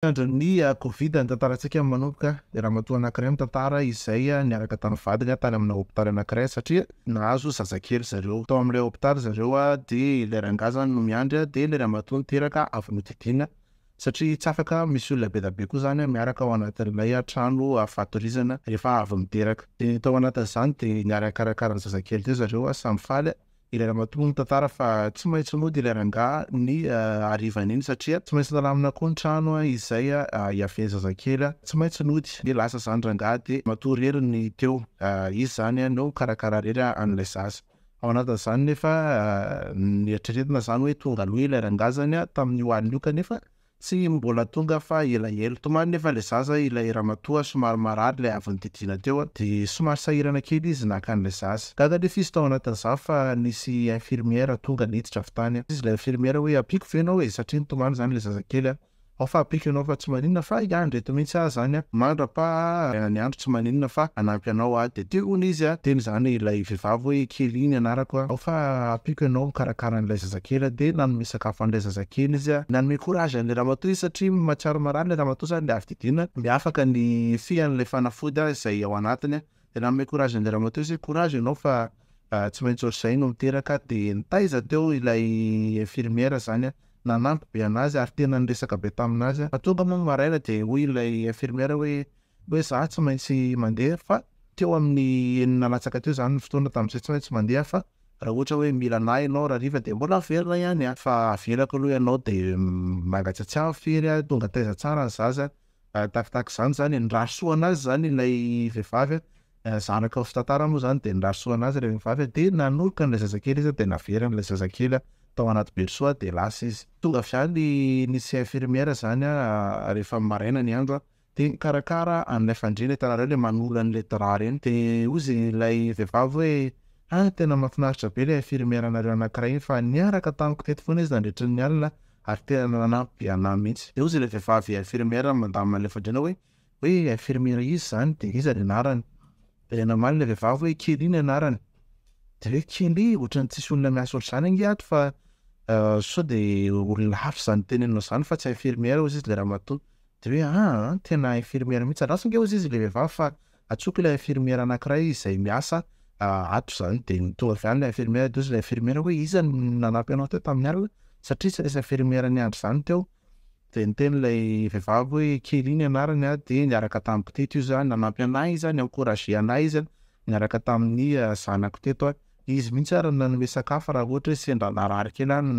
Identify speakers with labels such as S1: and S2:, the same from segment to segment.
S1: Niandry ny covid ny tantarantsika manomboka, dia ramatoa anankiray mitantara izay niaraka tamin'ny vadiny tany amina hopitaly anankiray satria nahazo zazakely zareo. Tao amin'ilay hopitaly zareo dia ilay rangahy izany no miandry dia ilay ramatoa niteraka avy nodidiana satria tsy afaka misy olona be dia be koa izany miaraka ao anatin'ilay trano fatorizana rehefa avy miteraka. Dia tao anatin'izany dia niara-nikarakara ny zazakely teo zareo samy faly. Ilay ramatoa mitantara fa tsy maintsy mody ilay rangahy ny harivan'iny satria tsy maintsy nalamina koa ny trano izay hiavian'ny zazakely. Tsy maintsy nody dia lasa izany rangahy dia matoa irery ny teo. Izy izany no mikarakara irery an'ilay zaza. Ao anatin'izany nefa noeritreretina izany hoe tonga aloha ilay rangahy izany tamin'io alina io kanefa Tsy mbola tonga fa elaela. Tomany nefa ilay zaza ilay ramatoa somary marary ilay avy nodidiana teo a, de somary sahirana kely izy naka an'ilay zaza. Gaga anie f'izy tao anatin'izany fa nisy infirmière tonga niditra avy tany a. Izy ilay infirmière hoe ampiako ve ianao e, satria nitomany zany ilay zazakely a, ao fa ampiako ianao fa tsy maninona fa hiandry eto mihitsy aho zany a, mandrapa a, ny andro tsy maninona fa hanampy anao aho de teo hono izy a, teny zany ilay vehivavy hoe kely iny anarako a, ao fa ampiako ianao mikarakara an'ilay zazakely. Kera dia nanome sakafo an'ilay zazakely izy a, nanome courage an'ilay ramatoa izy satria mahatsiaro marary ilay ramatoa zany dia avy didiana dia afaka ny fean'ilay fanafody a izay ao anatiny a, dia nanome courage an'ilay ramatoa izy hoe courage ianao fa tsy maintsy ohatr'izay no miteraka, dia nitaiza teo ilay infirmière zany a, nanampy be an'azy ary tena niresaka be tamin'azy a, fa tonga moa ny maraina dia hoy ilay infirmière hoe hoe za tsy maintsy mandeha fa teo amin'ny enina latsaka teo zany ny fotoana tamin'izay tsy maintsy mandeha fa raha ohatra hoe mila anah ianao rahariva dia mbola velona ihany aho fa avelako aloha ianao dia mangatsiatsiahy aho firy aho tonga taiza tsara ny zaza tahakitahaka izany zany nirary soa anazy zany ilay vehivavy a zanaka ny fitantara moa zany dia nirary soa anazy ilay vehivavy dia nanolotra an'ilay zazakely izy dia naveriny ilay zazakely tao anaty berceau dia lasa izy tonga avy any nisy infirmière zany a rehefa maraina ny andro a de mikarakara an'ilay fandriana hitanareo le manolo an'ilay drap reny de hoy izy ilay vehivavy hoe ah tena mahafinaritra be ilay infirmière nareo anankiray iny fa niaraka tamiko teto foana izy nandritry ny alina ary tena nanampy be anah mihitsy de hoy izy ilay vehivavy infirmière mandamina an'ilay fandriana hoe hoe infirmière iza zany de iza ny anarany de namaly ilay vehivavy hoe Kelly ny anarany de hoe Kelly ohatran'ny tsisy olona miasa ohatr'izany ange ato fa sao de olona hafa zany teneninao zany fa tsy infirmière hoy izy le ramatoa De hoe aa tena infirmière mihitsy, andraso nge ozy izy le vehivavy fa antsoiko ilay infirmière anakiray izay miasa ato zany de tonga avy any ilay infirmière de ozy ilay infirmière hoe iza no nanampy anao teo tamin'ny alina satria tsy nisy infirmière niandry zany teo, de niteny ilay vehivavy hoe Kelly ny anarany an, de niaraka tamin'ny mpitety io za, nanampy anay izy an, ni-encourager anay izy an, niaraka tamin'ny zanako teto an, izy mihitsy ary no nanome sakafo raha ohatra hoe sendra narary kely aho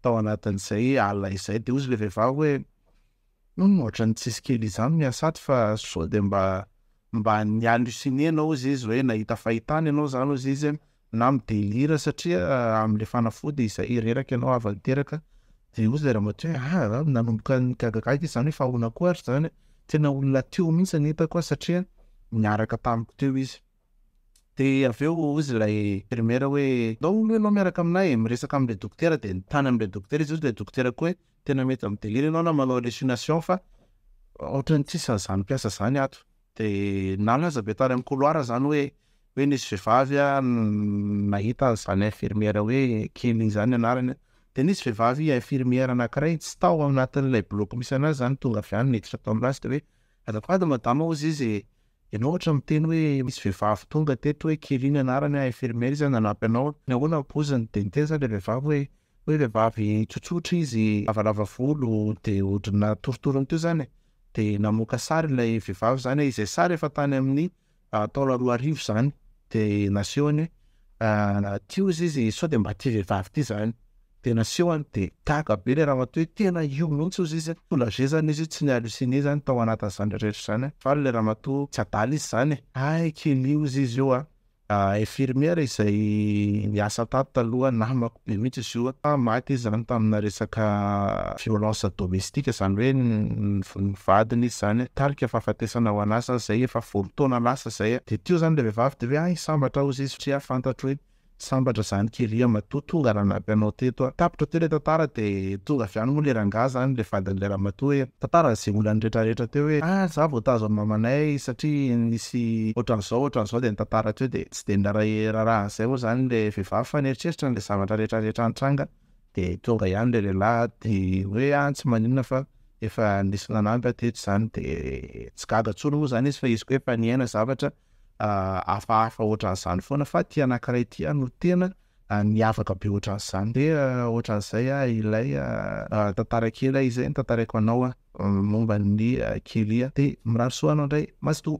S1: tao anatin'izay alina izay, de ozy ilay vehivavy hoe. Ohatran'ny tsisy kely izany ny asaty fa sao dia mba mba ny halluciner anao ziz hoe nahita fahitana ianao izany hoy ziz na mi-delire satria amin'ilay fanafody izay reraka ianao avy niteraka dia hoy ilay ramatoa hoe ah, ah nanomboka nigagagaga izy izany hoe fa ahoana koa ary izany e? tena olona teo mihitsy ny hitako aho satria niaraka tamiko teo izy dia avy eo hoy ilay infirmiera hoe ndao aloha ianao miaraka aminay e, miresaka amin'ilay dokotera dia nitany amin'ilay dokotera izy hoy ilay dokotera koa hoe Tena mety mi delire enao na manao hallucination fa otrany tsisy anzany mpiasa zany ato de na aza be tany am couloir zany hoe hoe nisy vevavy a nahita anzany infirmière hoe Kelly zany ny anarany de nisy vevavy infirmière anakiray tsy tao anatin'ilay block misy anazy zany tonga avy any niditra tao aminazy de hoe azafady madama ozy izy e enao otra miteny hoe misy vevavy tonga teto hoe Kelly ny anarany a infirmière izy a nanampy anao nahoana am poziny de niteny zany le vevavy hoe Hoe vehivavy tsotsotra izy, lavalava volo, dia ohatry ny natorotorony teo izany e, dia namoaka sary ilay vehivavy izany e, izay sary efa tany amin'ny taona roa arivo izany, dia nasehony hoe ity hozy izy sao dia mba ity vehivavy ity izany, dia nasehony, dia gaga be ilay ramatoa hoe tena io mihitsy hozy izy, soulagé izany izy hoe tsy ni-halluciner izany tao anatin'izany rehetra izany, faly ilay ramatoa, tsy adala izy izany e, hay kely hozy izy io an, Infirmière izay niasa tato taloha namako be mihitsy izy io a, maty izy zany tamina resaka violence domestique zany hoe ny vadiny izy zany nitarika fahafatesana ho an'asany zay efa folo taona lasa zay a, de teo zany le vehivavy de hoe ah hisambatra aho hozy satria fantatro hoe sambatra zany kely a matoa tonga nanampy anao teto a, tapitra teo le tantara de tonga avy any moa le rangahy zany le vadin'ilay ramatoa hoe. Tantara izay olany rehetra rehetra teo hoe ah za vao tazo an'i mamanay satria nisy ohatran'izao ohatran'izao dia nitantara teo dia tsy dia niray raharaha an'izay moa izany ilay vehivavy fa nieritreritra an'ilay zavatra rehetra rehetra nitranga dia tonga ihany ilay lehilahy dia hoe ah tsy maninona fa efa nisy nanampy aho teto izany dia tsy gaga intsony moa izany izy fa izy koa efa niaina zavatra hafahafa ohatran'izany foana fa ity anankiray ity no tena Ny afaka be ohatran'izany ve? Ohatran'izay ah ilay tantara kely ah izay notantaraiko anao ah momba an'i Kelly ah. Dia mirary soa anao indray Mazotoa.